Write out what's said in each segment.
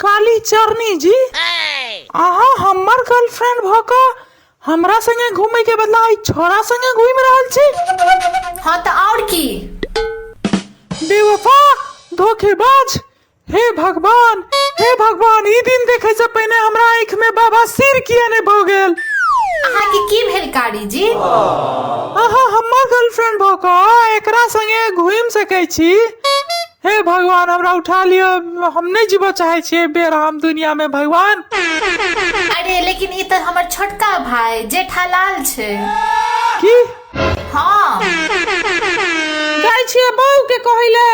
काली चरनी जी अहाँ हमर गर्लफ्रेंड भऽ कऽ हमरा संगे घूमे के बदला ई छोरा संगे घूम रहल छी हाँ तो और की बेवफा धोखेबाज हे भगवान हे भगवान ई दिन देखे से पहिने हमरा आँख में बाबा सिर किया ने भऽ गेल अहाँ के की भेल कारी जी अहाँ हमर गर्लफ्रेंड भऽ कऽ एकरा संगे घूम सकै छी हे भगवान हमरा उठा लियो हम नहीं जीव चाहे छे बेराम दुनिया में भगवान अरे लेकिन ई तऽ हमर छोटका भाई जेठालाल छै की हाँ जाय छिए बहू के कहले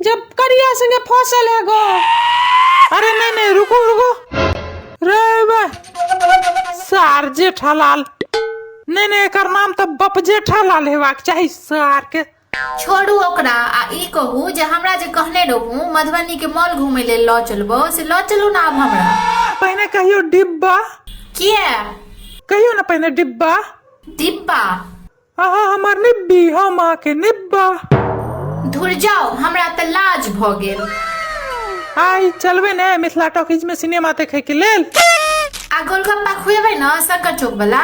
जब करिया संगे फसल है गो अरे नहीं नहीं रुको रुको रे बा सार जेठालाल नहीं नहीं एकर नाम तो बप जेठालाल हेबाक चाही सार के छोड़ू ओकरा आ ई कहू जे हमरा जे कहने रहू मधुबनी के मॉल घूमे लेल लऽ चलबो से लऽ चलू ना आब हमरा पहिने कहियो डिब्बा किया कहियो ना पहिने डिब्बा डिब्बा अहाँ हमर निब्बी हम अहाँके निब्बा धुर जाओ हमरा तऽ लाज भऽ गेल आइ चलबै ने मिथिला टॉकीज में सिनेमा देखै के लेल आ गोलगप्पा खुएबै ने शंकर चौक वाला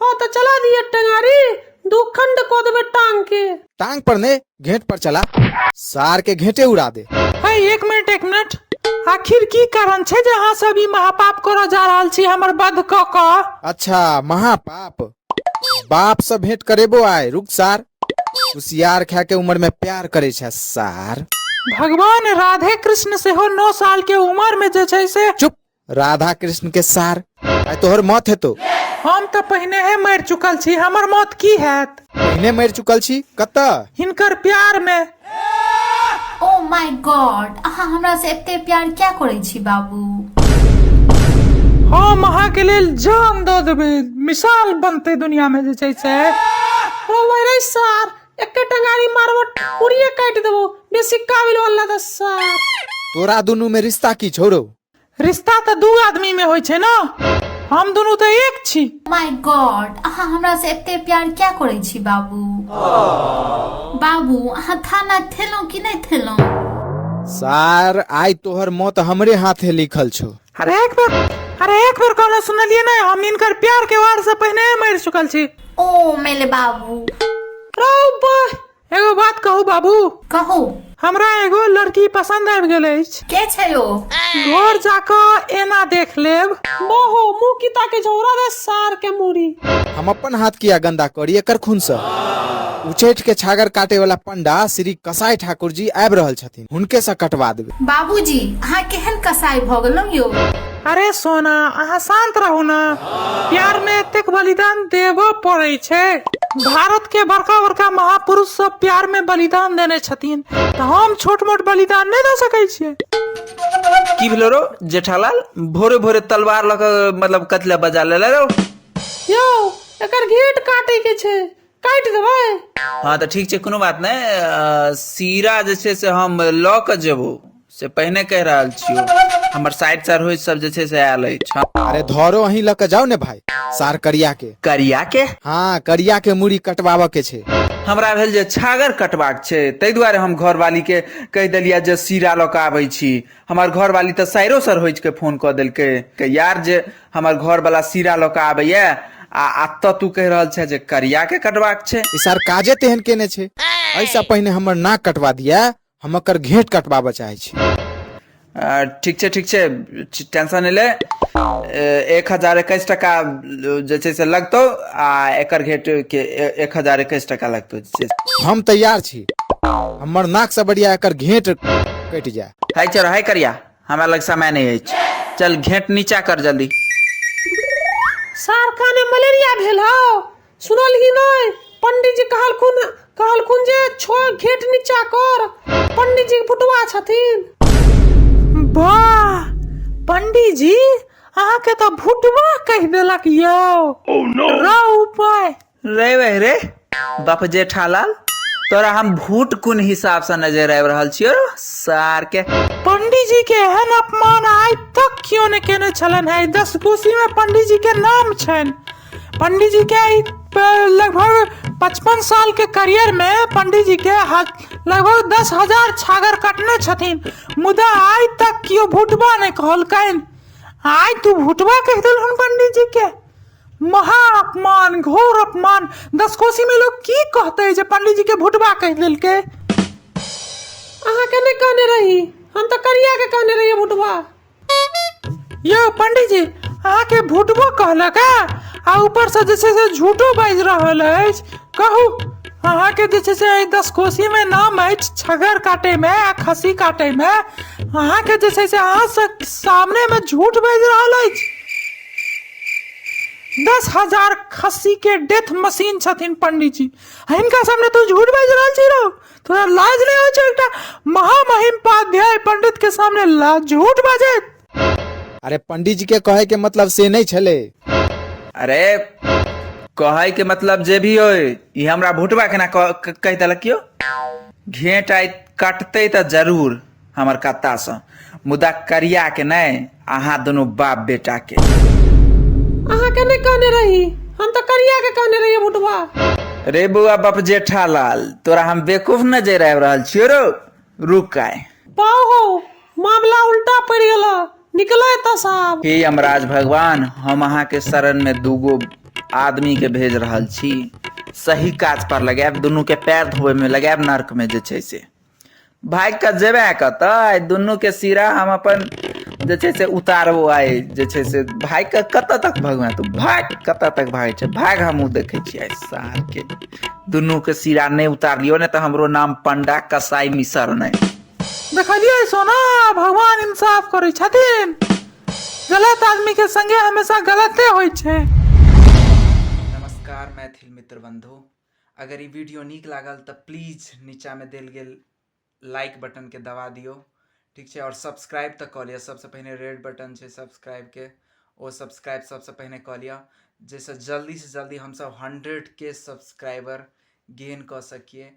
हाँ तो चला दिए टंगारी दो खंड को देवे टांग के टांग पर ने घेंट पर चला सार के घेंटे उड़ा दे है एक मिनट एक मिनट आखिर की कारण छे जे अहाँ सब ई महापाप करऽ जा रहल छी हमर बध कऽ कऽ अच्छा महापाप बाप से भेंट करेबो आय रुक सार कुसियार खा के उम्र में प्यार करे छे सार भगवान राधे कृष्ण सेहो नौ साल के उम्र में जे छै से चुप राधा कृष्ण के सार आइ तोहर मौत हेतौ हम तऽ पहिनेहे मरि चुकल छी हमर मौत की हैत पहिने मरि चुकल छी कतऽ हिनकर प्यार मे ओ माय गॉड अहाँ हमरा से एते प्यार क्या करै छी बाबू हम अहाँके लेल जान दऽ देबै मिसाल बनतै दुनिया मे जे छै से रोबै रे सार एकेटा गाड़ी मारबो पूरिये काटि देबो बेसी काबिल वाला दस सार तोरा दुनू में रिश्ता की छोड़ो रिश्ता तऽ दू आदमी में होइ छै ने हम दुनू तऽ एक छी माय गॉड अहाँ हमरा से एते प्यार क्या करै छी बाबू बाबू अहाँ खाना खेलहुँ कि नहि खेलहुँ सार आइ तोहर मौत हमरे हाथे लिखल छौ अरे एक बेर अरे एक बेर कहना सुनलिए ने हम इनकर प्यार के वार से पहले मर चुकल छी ओ मेले बाबू रौ बा एगो बात कहू बाबू कहू हमरा एगो लड़की पसंद आबि गेल अछि के छै ओ घर जाकऽ एना देख लेब बहु मुंह किता के झौरा दे सार के मुड़ी हम अपन हाथ किया गंदा करी एकर खून से उचैठ के छागर काटे वाला पंडा श्री कसाई ठाकुर जी आबि रहल छथिन हुनके से कटवा देबे बाबूजी अहाँ केहन कसाई भऽ गेलहुँ यौ अरे सोना अहाँ शांत रहू ने प्यार में एतेक बलिदान देबो पड़े छै भारत के बड़का बड़का महापुरुष सब प्यार में बलिदान देने छथिन तऽ हम छोट मोट बलिदान नहि दऽ सकै छियै की भेलो रो जेठालाल भोरे भोरे तलवार लऽ कऽ मतलब कथी लए बजा लेले रो यौ एकर घेट काटे के छै काटि देबै हँ तऽ ठीक छै कोनो बात नहि अ, सीरा जे छै से हम लऽ कऽ जेबो से पहिने कहि रहल छियौ हमर साइड सरोज सब जे छै से आयल अछि हँ। अरे धरो अहीं लऽ के जाओ ने भाई सार करिया के करिया के हाँ करिया के मुड़ी कटवाबऽ के छै हमरा भेल जे छागर कटबाक छै ताहि दुआरे हम घरवाली के कहि देलियै जे सीरा लऽ कऽ आबै छी हमर घरवाली तऽ साइरो सर होइच के फोन कऽ देलकै के यार जे हमर घर वाला सीरा लऽ कऽ आबैए आ अतऽ तू कहि रहल छे जे करिया के कटबाक छै ई सार काजे तेहन केने छै ऐसा पहिने हमर नाक कटवा दिया हम एकर घेट कटबाबऽ चाहे छी आ, ठीक छै ठीक छै च- टेंशन नहि ले ए, एक हजार एकैस टका जे छै से लगतौ आ एकर घेट के ए- एक हजार एकैस टका लगतौ जे छै। हम तैयार छी हमर नाक से बढ़िया एकर घेट कटि जाए है चल है करिया हमरा लग समय नहि अछि चल घेंट नीचा कर जल्दी सारका ने मलेरिया भेल हौ सुनल ही नै पंडित जी कहलखुन कहलखुन जे छो घेट नीचा कर पंडित जी फुटवा छथिन वाह पंडित जी अहाँके तऽ भुटवा कहि देलक यौ रौ उपाय रे वह रे बाप जेठालाल तोरा हम भूट कुन हिसाब से नजर आबि रहल छियो रो सार के पंडित जी के एहन अपमान आइ तक क्यों ने केने छलन है दस कोसी में पंडित जी के नाम छन पंडित जी के ई प- लगभग पचपन साल के करियर में पंडित जी के ह- लगभग दस हजार छागर कटने छथिन मुदा आइ तक क्यों भूटबा ने कहलकैन आइ तू भूटबा कह देलहन पंडित जी के महा अपमान घोर अपमान दसकोसी में लोग की कहते जे पंडित जी के भुटवा कह दिल के अहाँ के नहीं कहने रही हम तो करिया के कहने रही भुटवा यो पंडित जी अहाँ के भुटबो कहलक आ ऊपर से जे छै से झूठो बाज रहल अछि कहू अहाँ के जे छै से एहि दस कोसी में नाम अछि छगर काटे में आ खसी काटे में अहाँ के जे छै से अहाँ से सामने में झूठ बाज रहल अछि दस हजार खस्सी के डेथ मशीन छथिन पंडित जी हिनका सामने तू झूठ बाजि रहल छी रौ तोरा लाज नहीं हो एकटा महामहिम पाध्याय पंडित के सामने ला झूठ बाजे अरे पंडित जी के कहे के मतलब से नहीं छले अरे कहे के मतलब जे भी हो ई हमरा भुटवा केना कह- क- कह देलक यो घेंट आइ काटते त जरूर हमर कत्तासँ मुदा करियाके नहि अहाँ दुनू बाप बेटाके अहाँ के नहीं कहने रही हम तो करिया के कहने रही बुटवा रे बौआ बाप जेठालाल तोरा हम बेवकूफ नजर आबि रहल छियो रो रुक आय पाओ हो मामला उल्टा पड़ गया निकलो एत साहब हे यमराज भगवान हम अहाँ के शरण में दूगो आदमी के भेज रहल छी सही काज पर लगायब दुनू के पैर धोबे में लगायब नर्क में जे छै से भागि कऽ जेबे कतऽ आइ दुनू के सिरा हम अपन जे छै से उतारबो आइ जे छै से भागि कऽ कतऽ तक भगवान तू भाग कतऽ तक भागै छै भाग हमहूँ देखै छियै आइ सार के दुनू के सिरा नहि उतारलियो ने तऽ हमरो नाम पंडा कसाई मिसर नहि देखलियै सोना भगवान इंसाफ करै छथिन गलत आदमी के संगे हमेशा गलते होइ छै नमस्कार मैथिल मित्र बंधु अगर ई वीडियो नीक लागल तऽ प्लीज नीचाँमे देल गेल लाइक बटनके दबा दियौ ठीक छै आओर सब्सक्राइब तऽ कऽ लिअ सभसँ पहिने रेड बटन छै सब्सक्राइबके ओ सब्सक्राइब सभसँ पहिने कऽ लिअ जाहिसँ जल्दीसँ जल्दी हमसभ हंड्रेड के सब्सक्राइबर गेन कऽ सकिए